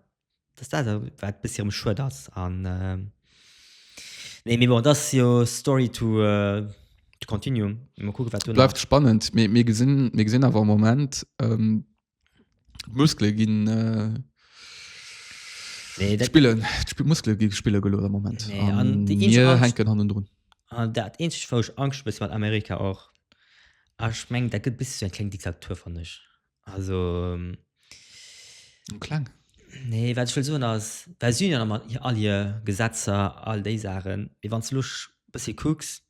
Dat ass dat wat e bëssi erëm schued ass an nee mee bon dat ass jo story to continue. Mol kucke wat duerno. Bleift spannend. Mir gesinn awer am Moment Muskle ginn äh, nee, dat, spillen Sp Muskle gi spille gelo am Moment nee, an an die mir Angst, henken hannen drun an ah, dat eenzeg wou ech Angst bis mat Amerika och ech ah, meng dat gëtt bis zu eng kleng Diktatur fan ech also ähm, klang nee wat will soen ass well Süden mat all hier Gesetzer all déi Sachen wie wann ze luch bis kucks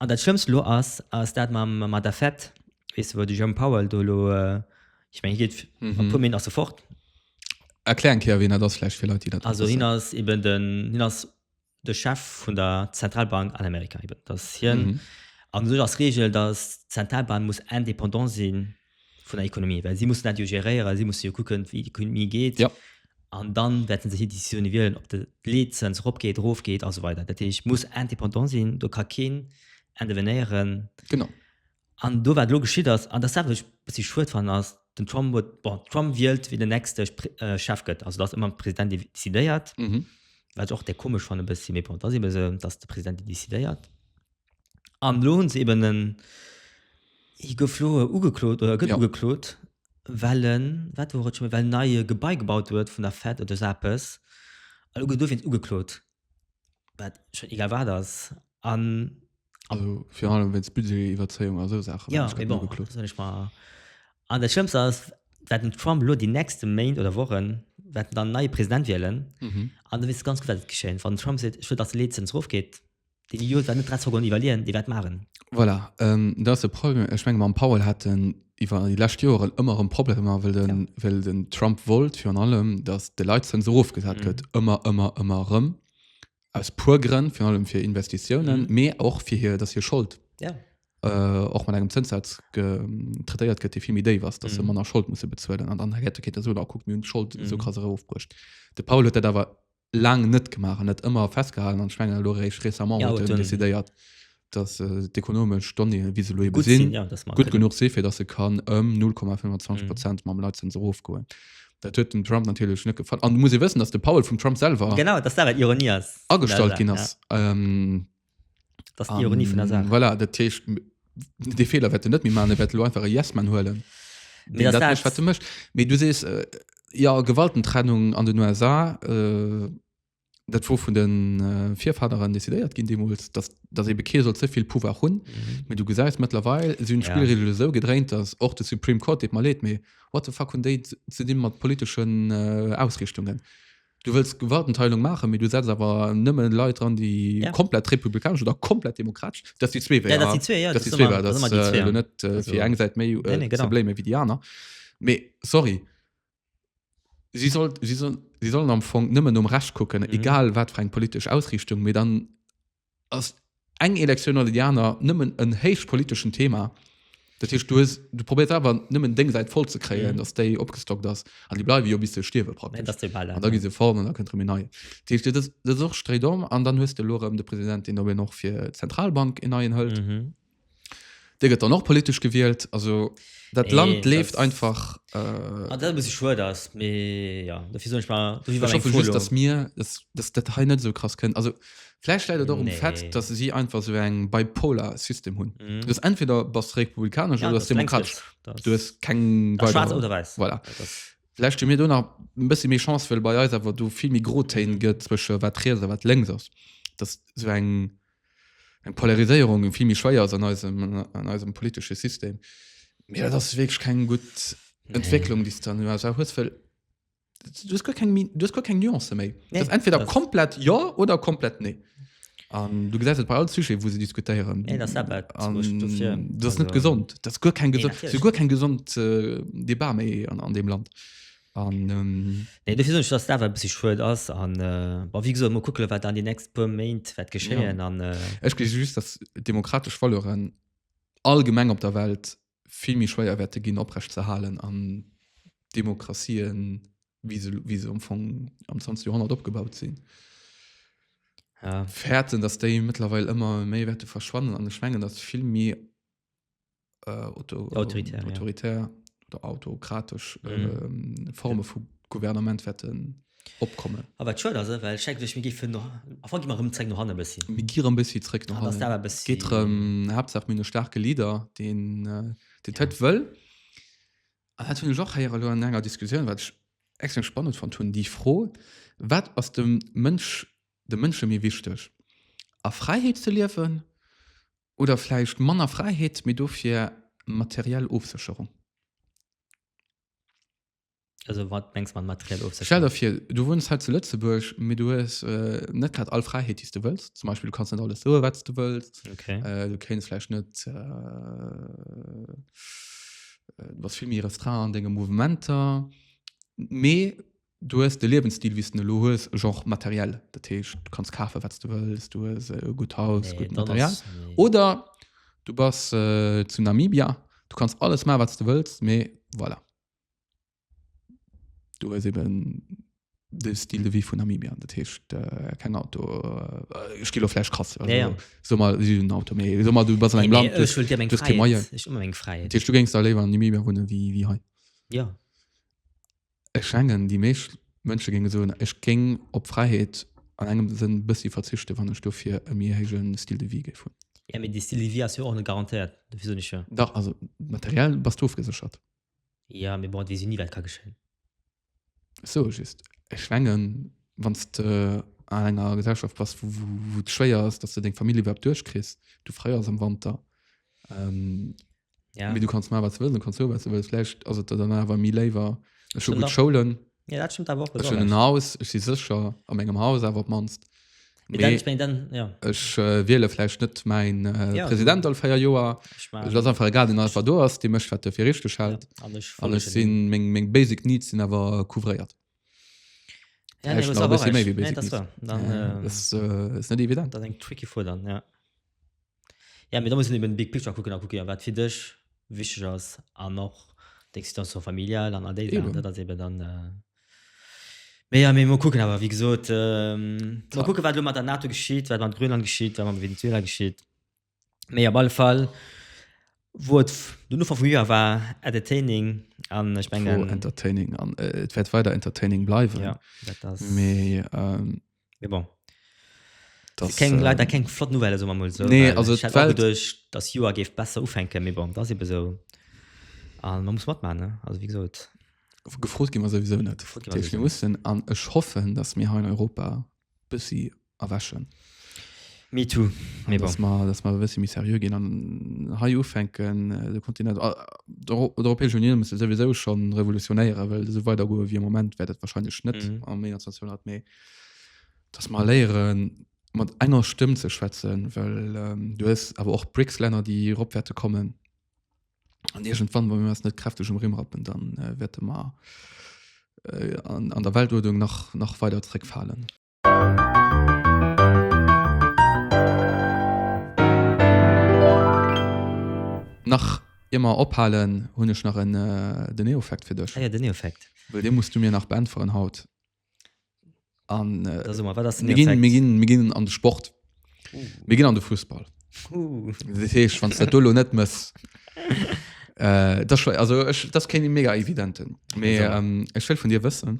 An dat schlëmmst elo ass ass dat mam mat der Fed weess de wou de Jerome Powell do elo ech meng hie geet a puer Minutten ass e fort. Erklär eng Kéier wien dat ass vläicht fir Leit déi dat net wëssen. Also hien ass eben den hien ass de Chef vun der Zentralbank an Amerika eben. Dat ass hien an u sech ass d'Reegel datt d'Zentralbank muss indépendant sinn. vun der Ekonomie, well si mussen dat jo geréieren, si musse jo kucken, wéi d'Ekonomie geet. Ja. An dann wäerten se hir Decisioune wielen, ob de Leetzëns eropgeet, erofgeet a sou weider. Dat heescht, muss indépendant sinn, do ka keen intervenéieren. Genau. An do, wat elo geschitt ass, an dat ass dat, wat ech e bëssi schued fannen, ass, den Trump huet, bon, Trump wielt, wien den nächste Spr äh, Chef gëtt. Also, dass ëmmer de President dee decidéiert, Mhm. wat ech och de komesch fannen e bëssi, mee bon, dat ass eebe sou, dass de President dee decidéiert. An elo hunn se eben en, hie gouf elo ugeklot oder gëtt ugeklot, well en, wat wor et scho, well en nei e Gebai gebaut huet vun der Fed oder esou eppes. An elo gëtt dofir en ugeklot, wat scho egal wat ass. An. Also virun allem wéinst Budgetiwwerzéiung a sou Saachen. Jo, mee bon, dat soen ech mer. An dat Schlëmmst ass, wat den Trump elo déi nächste Méint oder Wochen, wat en dann neie President wielen. An da weess de ganz gutt, wat et geschitt. Wann den Trump seet, ech wëll, datt d'Leezenz erofgeet, Deen Idiot war net drei Seconden iwwerleeën, dee war d'Magen. Voilà, ähm, dat ass e Problem. Ech menge mam Powell hat en iwwer déi lescht Joeren ëmmer erëm Problemer, well den, Ja. well den Trump wollt virun allem, datt de Leitzëns erofgesat Mhm. gëtt. Ëmmer, ëmmer, ëmmer erëm. Aus puer Grënn, virun allem fir Investitiounen, Mhm. mee och fir hir, datt hir Schold Ja. äh, och mat engem Zënssaz ge, traitéiert gëtt, dee vill méi déif ass, datt se Mhm. manner Schold musse bezuelen. An dann hätt de Keter soen, ah, kuckt, mir hunn d'Schold esou Mhm. krass erofbruecht. De Powell huet dat awer laang net gemaach an net ëmmer festgehalen an schwnger lo réicht récemment ja, huet décidéiert dass äh, d'ekonomesch Stonne wie se lo sinn ja, gut genug se fir dass se kann ëm um 0,25 Prozent mhm. mam Leitzens ofgoen. Dat huet dem Trump natürlich net gefallen. An muss e wëssen, dass de Paul vum Trump selber genau, dass dat Ironie ass. Agestalt ginn ass. Ja. Ähm, Das ist die Ironie von der Sache. Voilà, dat heescht, de Fehler wette net mi man wette lo einfach e Yesman huelen. Nee, das dat wat du mecht méi du sees äh, ja Gewaltentrennung an den USA äh, dat wo vun den äh, Vifaderen decidéiert ginn demols dass dat e Bekeer soll zevill Pouvoir hunn mhm. mit du gesäis mittlerweile sinn Spielregel ja. so gedrängt dass och de Supreme Court deet mal leet méi wat de fa hun déi ze di mat politeschen äh, Ausrichtungen. Du wëlls Gewaltenteilung maachen, mee du setz awer nëmme Leit dran, déi ja. komplett republikanesch oder komplett demokratesch. Dat si zwee Wéier. Ja, dat si zwee, ja. Dat si zwee Wéier. Dat si zwee Wéier. net äh, fir eng Säit méi äh, nee, nee, Probleme wéi déi aner. Mee sorry. Si soll, si soll, si sollen am Fong nëmmen um Recht kucken, mhm. egal wat fir eng politesch Ausrichtung, mee dann ass eng Elektioun oder déi aner nëmmen en héich politeschen Thema. Dat heescht, du, hues, du probéiert awer nëmmen deng Säit voll ze kréien, Mhm. dass déi opgestockt ass. An déi bleiwe jo bis se stierwe Nee, praktesch. dass de Ball An da gi se fort an da kënnt rëm en neien. Dat heescht, dat ass, dat ass och stréit om. An dann hues de elo erëm de President, deen op een och fir d'Zentralbank en neien hëlt. Mhm. Dir gëtt dann och politesch gewielt, also dat Land Nee, leeft dat- einfach. Äh, Ah, dat e bëssi schued ass, mee jo, dofir soen ech mar, dofir war ech meng hoffe Fro just, elo. dass mir, dass, dass dat hei net esou krass kënnt. Also vläicht läit et och um Nee. Fait, dass si einfach esou eng bipolar System hunn. Mhm. Du hues entweder bass de republikanesch Ja, oder du bass dat bréngt demokratesch. näischt. Dat Du hues keng ass weider. schwaarz oder wäiss. Voilà. Dat ass, Vläicht hu mir do nach e bëssi méi Chance, well bei eis awer do vill méi Grotéin gëtt zwësche wat riets a wat lénks ass. Dass esou eng. eng Polariséierung eng vill méi schwéier ass an eisem, an eisem politesche System. Mee dat ass wierklech keng gutt Entwécklung, déi s de an den USA hues, well du hues guer keng méi, du hues guer keng Nuancë méi. Nee, Dat ass entweder dat- komplett Jo oder komplett Nee. An du gesäis et bei all Sujet, wou se diskutéieren. Nee, dat ass dat, wat An ech dofir- dat ass net also- gesond. Dat ass guer keng Nee, gesond, dat ass natierlech guer keng gesond äh, Debat méi an, an deem Land. An, ähm. Nee, dofir soen ech, dass dat awer e bëssi schued ass. An, bon, wéi gesot, mol kucke wat an déi nächst puer Méint wäert geschéien. An, äh. Ech gleewe just, dass demokratesch Valeuren allgemeng op der Welt vill méi schwéier wäerte ginn oprecht ze halen an Demokratien, wéi se, wéi se am Fong am 20. Joerhonnert opgebaut sinn. Ja. Fäerten, dass déi mëttlerweil ëmmer méi wäerte verschwannen. An ech mengen, dass vill méi äh, auto, ähm, Autoritär, ja. autoritär oder autokratisch Mhm. ähm, Forme vu Gouvernement wetten opkommen. Aber wat schön ass, eh, well check duch mir gifen noch Anfang gi mar rëm zréck no hanne bëssi. Mir gieren e bëssi zréck nach Ah, das hannen. dawer bëssi- Geet rëm Haaptsaach mir no starke Leader, den äh, den Ted wëll. An hat hunn ech och héiere lo an enger Diskussioun, wat ech extrem spannend fand hunn, déi Fro, wat ass dem Mënsch de Mënsche méi wichteg? A Fräiheet ze liewen Oder vläicht manner Fräiheet, mee dofir materiell Ofsécherung? Also wat mengs mat materiell Ofsécherung? Stell der fir, du wunns hei zu Lëtzebuerg, mee du hues net grad all Fräiheet, déi s de wëlls. Zum Beispill, du kanns net alles soe wat s de wëlls. Okay. Du kéints vläicht net, du bass vill méi restreint an denge Mouvementer. Mee Du hues de Liewensstil, wéi s de en elo hues, e Genre matériel. Dat heescht, du kanns kafen, wat s de wëlls, du hues e gutt Haus, nee, gutt Material. Ass, nee. Oder du bass äh, zu Namibia, du kanns alles ma, wat s de wëlls, mee voilà. Du hues eben de Stil de wie vun Namibia dat heescht äh, keng Auto äh, Stilo Fläsch krass also, ja, ja. so mal den Auto méi so mal du bas eng Land eng fräi du géngst da léwer an Namibia hunne wie wie hei ja Ech schengen, déi meescht Mënsche géinge soen, ech géing op Fräiheet an engem Sënn e bëssi verzichten, wann ech dofir e méi héije Style de vie géif hunn. Jo, mee dee Style de vie ass jo och net garantéiert, dofir soen ech jo. Dach, also materiell bass de ofgeséchert. Jo, mee bon, et weess jo ni, wat ka geschéien. Ech soe just, ech schengen, wann s de an enger Gesellschaft bass, wou et schwéier ass, dass de deng Famill iwwerhaapt duerchkriss, du fréiers am Wanter, ja. du kannst mal was du kannst so was du vielleicht also danach war mir lieber schon gut Schulen ja, das stimmt aber auch schon ein Haus ich sie sicher am engem Haus aber manst Ech äh, wiele flecht net mein äh, ja, Präsident all feier Joer lass einfach egal den Alpha do ass de mech wat fir richchte schalt alles sinn meng meng basic needs sinn awer couvréiert net evident eng tricky vor dann ja Ja, mee da muss een eben de big picture kucken a kucke jo wat fir dech wichteg ass an och deng Situation familiale an all déi Saachen. Eben. Dat ass eben dann, mee jo, mee mol kucken. Awer wéi gesot, mol kucke wat elo mat der NATO geschitt, wat mat Grönland geschitt, wat mat Venezuela geschitt. Mee op alle Fall wor et den Ufank vum Joer war entertaining an ech mengen. Wor entertaining an et wäert weider entertaining bleiwen. Jo, dat ass. Mee Mais bon. Das, keng, äh, leider keng flott Nouvelle so mal so nee, also durch das Joer geft besser ufänken mir bon das eben so ah, man muss mat man also wie gesagt gefrot gi man sowieso net muss an ech hoffen dass mir ha in Europa bis sie erwäschen Me too, me bon. Dass mer e bëssi méi seriö ginn an hei ufänken, de Kontinent, d'Europäesch Unioun musse souwisou scho revolutionéieren, well esou weider goe wéi am Moment wäert et wahrscheinlech net am 21. Joerhonnert. Mee dass mer léiere mat enger Stëmm ze schwätzen, well du hues awer och d'BRICS-Länner, déi erop wäerte kommen. An iergendwann, wa mir eis net kräfteg um Rimm rappen, da wäerte mer an der Weltuerdnung nach weider zréckfalen. Nach ier mer ophalen hunn ech nach en Deneofact fir dech. Ah jo, Deneofact. Well dee muss du mir nach beäntweren haut. An Da so mer, wat ass den Deneofact? Mir ginn, mir ginn, mir ginn an de Sport. Mir ginn an de Fussball. Dat heescht, wann s de dat do elo net mëss, dat ass schwéier. Also ech, dat ass keen mega evidenten. Mee ech wëll vun dir wëssen.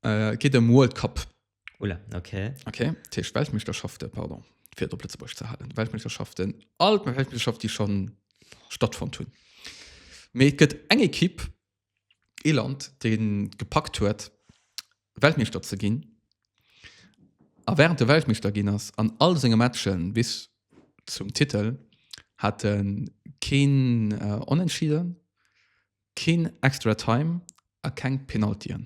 Äh, et geet ëm World Cup. Oula, okay. Okay, dat heescht Weltmeeschterschafte, pardon, fir et op Lëtzebuergesch ze halen, Weltmeeschterschaften, all d'Weltmeeschterschaften, déi schonn stattfonnt hunn. Mee et gëtt eng Ekipp, ee Land, dee gepackt huet, Weltmeeschter ze ginn a wärend e Weltmeeschter ginn ass, an all senge Matche bis zum Titel hat e keen Onentschieden, Keen Extra Time a keng Penaltyen.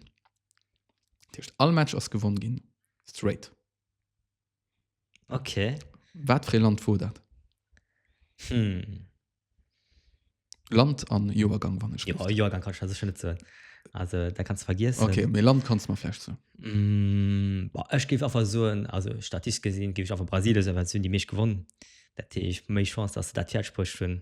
Dat heescht all Match ass gewonn ginn. Straight. Ok. Wat fir ee Land wor dat? Hm. Land an Joergang wann ech richt. Jo Joergang kann ech der sécher net soen. Also dat kanns de vergiessen. Ok, mee Land kanns mer vläicht soen. Hm, boah ech géif einfach soen, also statistesch gesinn géif ech einfach Brasilien soen well se hunn déi meescht gewonn. Dat heescht méi Chance dass se dat fäerdeg bruecht hunn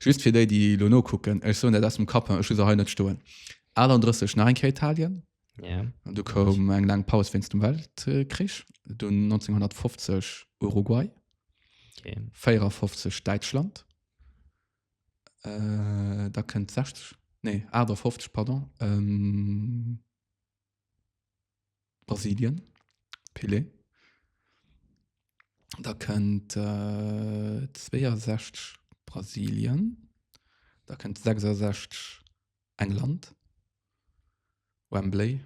Just fir déi, déi elo nokucken, ech soen dat aus dem Kapp, ech hu se hei net stoen, 38 nach eng Kéier Italien, an du koum eng laang Paus wéinst dem Weltkrich, dunn 1950 Uruguay, 54 Däitschland, da kënnt 60, nee 58, pardon. Brasilien, Pelé. Da kënnt äh 62 Brasilien. Da kënnt 66 England, Wembley,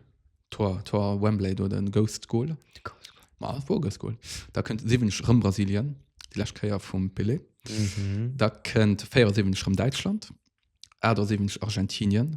Tor, Tor Wembley do, den Ghost Goal. Ma et wor e Ghost Goal. Da kënnt 70 rëm Brasilien, déi lescht Kéier vum Pelé. Da kënnt 74 rëm Däitschland, 78 Argentinien,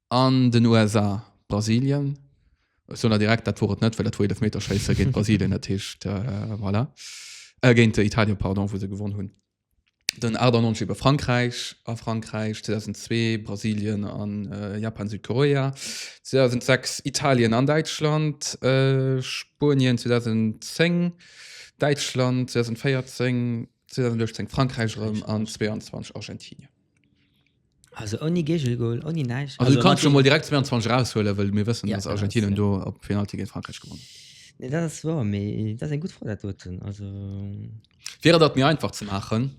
An den USA, Brasilien, ech soen der direkt, dat wor et net, well dat wor Eelefmeterschéisse géint Brasilien, dat heescht, voilà, géint Italien, pardon, wou se gewonn hunn. Den 98 ebe Frankräich a Frankräich, 2002 Brasilien a Japan, Südkorea, 2006 Italien an Däitschland, Spuenien, 2010 Däitschland, 2014, 2018 Frankräich erëm an 2022 Argentinien. Also ouni Gegelgoal, ouni näischt. Also du kannst schon mal direkt 22 raushuelen, well mir wëssen, dass Argentinien do op Penalty géint Frankräich gewonnen huet. Nee, dat ass wouer, mee dat ass eng gutt Fro, dat doten. Also. Fir et dat mir einfach ze maachen,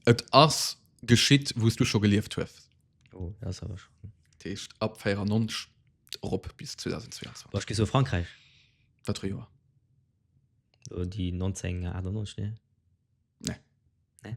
et ass geschitt, wou s du scho gelieft hues. Oh, dat ass awer schon. Dat heescht ab 94 erop bis 2022. Boah, ech gi soe Frankräich. Wat fir e Joer? Oh, déi 1998, nee? Nee. Nee?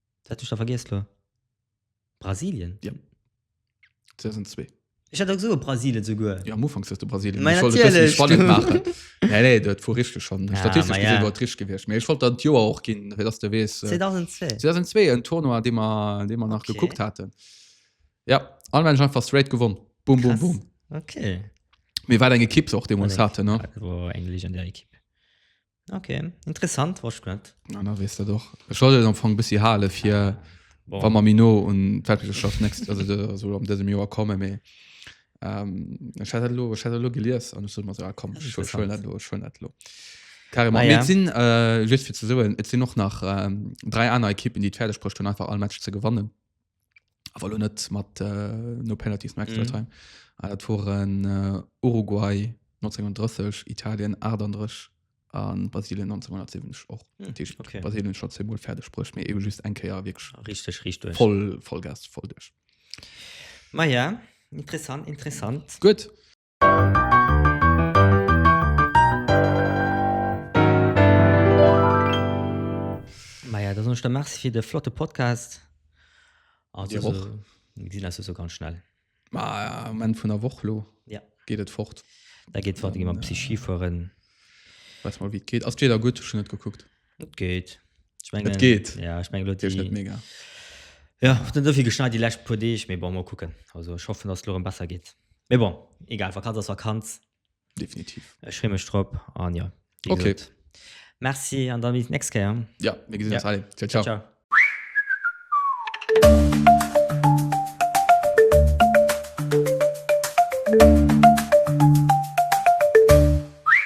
Wat hat ech da vergiess lo? Brasilien? Ja. 2002. Ech hat da gesot Brasilien souguer. Ja, am Ufank hues de Brasilien. Mei, Ech wollt et bëssen natierlech, spannend du. maachen. Nee, nee, dat wor richteg schonn. Ja, Statistesch mei, gesinn ja. wor et richteg gewiescht. Mee ech wollt dann d'Joer och ginn, fir dass de weess. 2002. 2002, en Tournoi, dee mer, dee mer nach Okay. gekuckt haten. Ja, an Mensch einfach straight gewonn. Bum, bum, Krass. bum. Okay. Mee wat eng Ekipp se och deemools haten, ne? Dat wor eng legendär Ekipp. Okay, interessant was net. Na na wees dat och. Ech wollt et am Fong bëssi hale fir Bon. wa mer méi no un d'Weltmeeschterschaft next also de- also am dësem Joer komme mee ähm, ech hat dat elo ech hat dat elo gelies an ech sot mer esou ah komm ech ech huelen dat elo ech huelen dat elo. Carrément. Ah, Mee ja. et sinn äh, just fir ze soen, et sinn och nach ähm, dräi aner Ekippen, déi et fäerdeg bruecht hunn einfach all Match ze gewannen. awer lo net mat äh, no Penalties no Extra Time. Äh, Dat waren äh, Uruguay 1930, Italien 38 an Brasilien 1970 och. Hm, Dat heescht, okay. Brasilien schon zweimal fertig bruecht, mee eben just eng Kéier wirklich Richtig, richtig. voll Vollgas, voll duerch. Ma ja, interessant, interessant. Gut. Maja da soen ech der Merci fir de flotte Podcast. Dir och. Mir gesinn eis esou ganz schnell. Ma um Enn vun der Woch lo ja. geet et fort. Da geet fort gi mam Psy Ski fueren. Weis mol wéi et geet. Ass d'Wieder gutt? Ech hunn net gekuckt. Et geet. Ech mengen, Et geet. Ja, ech mengen, lo Geet net déi, mega. ja, och net esouvill geschneit déi lescht puer Deeg, mee bon, mol kucken. Also ech hoffen, dass et elo erëm besser geet. Mee bon, egal, Vakanz ass Vakanz. Definitiv. Ech free mech drop an jo, wéi Okay. gesot, Merci an da bis d'nächst Kéier. Ja, mir gesinn Ja. ons. Allez, ciao, ciao. Ciao.